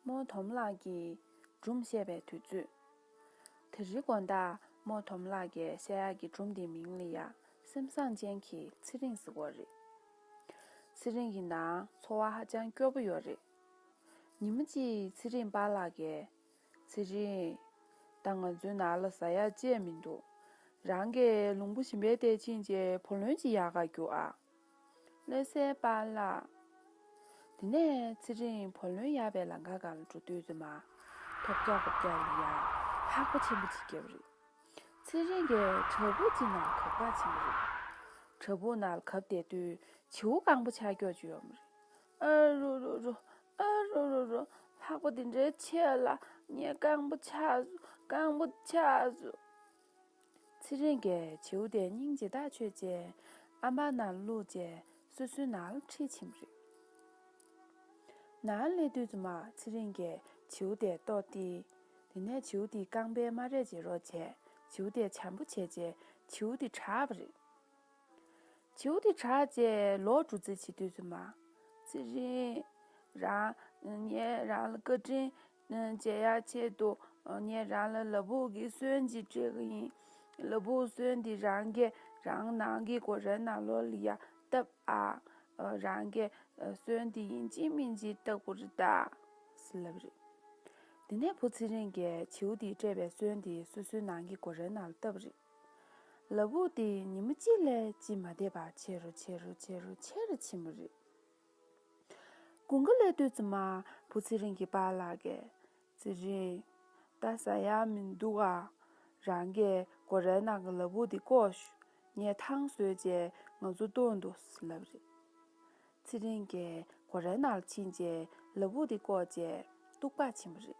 རྨོ་དོམ་ལགས་ཀྱིས་སྒྲུང་བཤད་པའི་དུས་ཚོད། དེ་རིང་དགོན་བདག་རྨོ་དོམ་ལགས་ཀྱི་བཤད་ཡག་གི་སྒྲུང་དེའི་མིང་ལ་ཡ། སེམས་བཟང་ཅན་གྱི་ཚེ་རིང་ཟེར་བ་རེད། ཚེ་རིང་གི་ནང་འཚོ་བ་ཧ་ཅང་སྐྱོ་པོ་ཡོད་རེད། ཉིན་མོ་གཅིག་ཚེ་རིང་པཱ་ལགས་ཀྱིས། ཚེ་རིང། ད་ང་ཚོའི་ནང་ལ་ཟ་ཡག་ཅེས་མི་འདུག། རང་གི་ལུང་པོ་ཞིམ་པའི་གཏེར་ཆེན་གྱི་བུ་ལོན་གྱི་ཡག་ག་རྒྱུག་ཨ། བློ་གསལ་པ་ལགས། དེ་ནས་ཚེ་རིང་བུ་ལོན་ཡག་པའི་ལང་ཀ་གང་ལ་འགྲོ་དུས་རྫུན་མ། ཐོབ་རྒྱག་པོབ་རྒྱག་ཡིན་ཡང་ལྷག་པ་ཆེན་པོ་ཅིག་བརྒྱབ་རིགས། ཚེ་རིང་གི་བྲག་ཕུག་ཅིག་ནང་གབ་ག་ཆེན་པོ་རེད། བྲག་ཕུག་ནང་ལ་གབ་བསྡད་དུས་བྱིའུ་རྐང་པོ་ཆགས་འགྱོག་ཅིག་ཡོད་མ་རེད། ཨ་རོ་རོ་རོ། ཨ་རོ་རོ་རོ། ལྷག་པ་དེ་འདྲའི་ཆེད་ལ་ངས་རྐང་པ་ཆགས་སོང། རྐང་པ་ཆགས་སོང། ཚེ་རིང་གི་བྱིའུ་དེ་སྙིང་རྗེ་དག་ཆོད་རྗེས་ཨ་མ་ན་ལུག་ཅེས་སོ་སོའི་ནང་ལ་ཁྲིད་ཕྱིན་པ་རེད། ནང་སླེབས་དུས་རྫུན་མ་ཚེ་རིང་གིས་བྱིའུ་དེ་བཏོགས་ཏེ། དེ་ནས་བྱིའུ་དེའི་རྐང་པའི་རྨ་རས་བརྗེ་རོགས་བྱས། བྱིའུ་དེ་བྱམས་པོ་བྱས་རྗེས་བྱིའུ་དེ་གྲགས་པ་རེད། བྱིའུ་དེ་ཁྲག་བཅས་ལོག་འགྲོ་རྩིས་བྱེད་དུས་སུ་མ། ཚེ་རིང། རང། ངས་རང་ལ་བཀའ་དྲིན། མཇལ་ཡག་ཆེད་དུ། ངས་རང་ལ་ལ་བུག་གི་སོན་གྱིས་སྤྲད་ཀྱི་ཡིན། ལ་བུག་སོན་དེ་རང་གས་རང་ནང་གི་གོ་རེ་ནང་ལོག་ལ་ཡ་བཏབ་ཨ། རང་གས་སོན་དེ་ཡིན་གཅིག་མིན་གཅིག་བཏབ་གོ་རེ་ད། སི་ལབ་རེད། དེ་ནས་བུ་ཚེ་རིང་གས་བྱིའུ་དེས་སྤྲད་པའི་སོན་དེ་སོ་སོའི་ནང་གི་གོ་རེ་ནང་ལ་བཏབ་རེད། ལ་བུག་དེ་ཉིན་མོ་གཅིག་ལས་གཅིག་མ་འདས་པར་ཆེ་རུ་ཆེ་རུ་ཆེ་རུ་ཆེ་རུ་ཕྱིན་པ་རེད། དགུན་ཁ་ལས་དུས་ཚོད་མ་བུ་ཚེ་རིང་གིས་པཱ་ལགས་ཀྱི། ཚེ་རིང། ད་ཟ་ཡག་མི་འདུག་ཨ། རང་གི་སྒོ་རའི་ནང་གི་ལ་བུག་དེ་བསྐོར་ཞུ། ངས་ཐང་བཟོས་རྗེས་ང་ཚོ་ལྟོས་འདུག་ལབ་རེད། ཚེ་རིང་གིས་སྒོ་རའི་ནང་ལ་ཕྱིན་རྗེས་ལ་བུག་དེ་བསྐོར་རྗེས་སྟུག་པར་ཕྱིན་པ་རེད།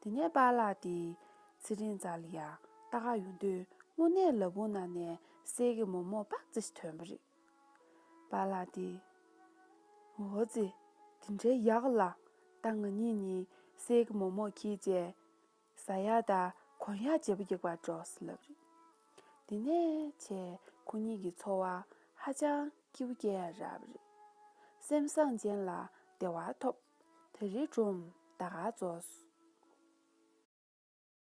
དེ་ནས་པཱ་ལགས་དེས་ཚེ་རིང་བཙའ་ལ་ཡ་ཏཱ་ག་ཡོང་དུས་དངོས་གནས་ལ་བུ་ན་ནས་སྲས་ཀྱི་མོ་མོ་པག་ཙེ་ཞིག་ཐོན་པ་རེད། པཱ་ལགས་དེས། འོ་ཙི། དེ་འདྲའི་ཡག་ལ། ད་ང་གཉིས་ནི་སྲས་ཀྱི་མོ་མོ་ཁྱི་བཅས། བཟའ་ཡག་དང་གོན་ཡག་བྱེད་པོ་རྒྱག་པར་འགྲོ་ཟེར་ལབ་རེད། དེ་ནས་ཆེ་ཁོ་གཉིས་ཀྱི་འཚོ་བ་ཧ་ཅང་སྐྱིད་པོ་སྐྱེལ་ཡ་རབས་རེད། སེམས་བཟང་ཅན་ལ་བདེ་བ་ཐོབ། དེ་རི་སྒྲོམ་བདག་རྫོགས།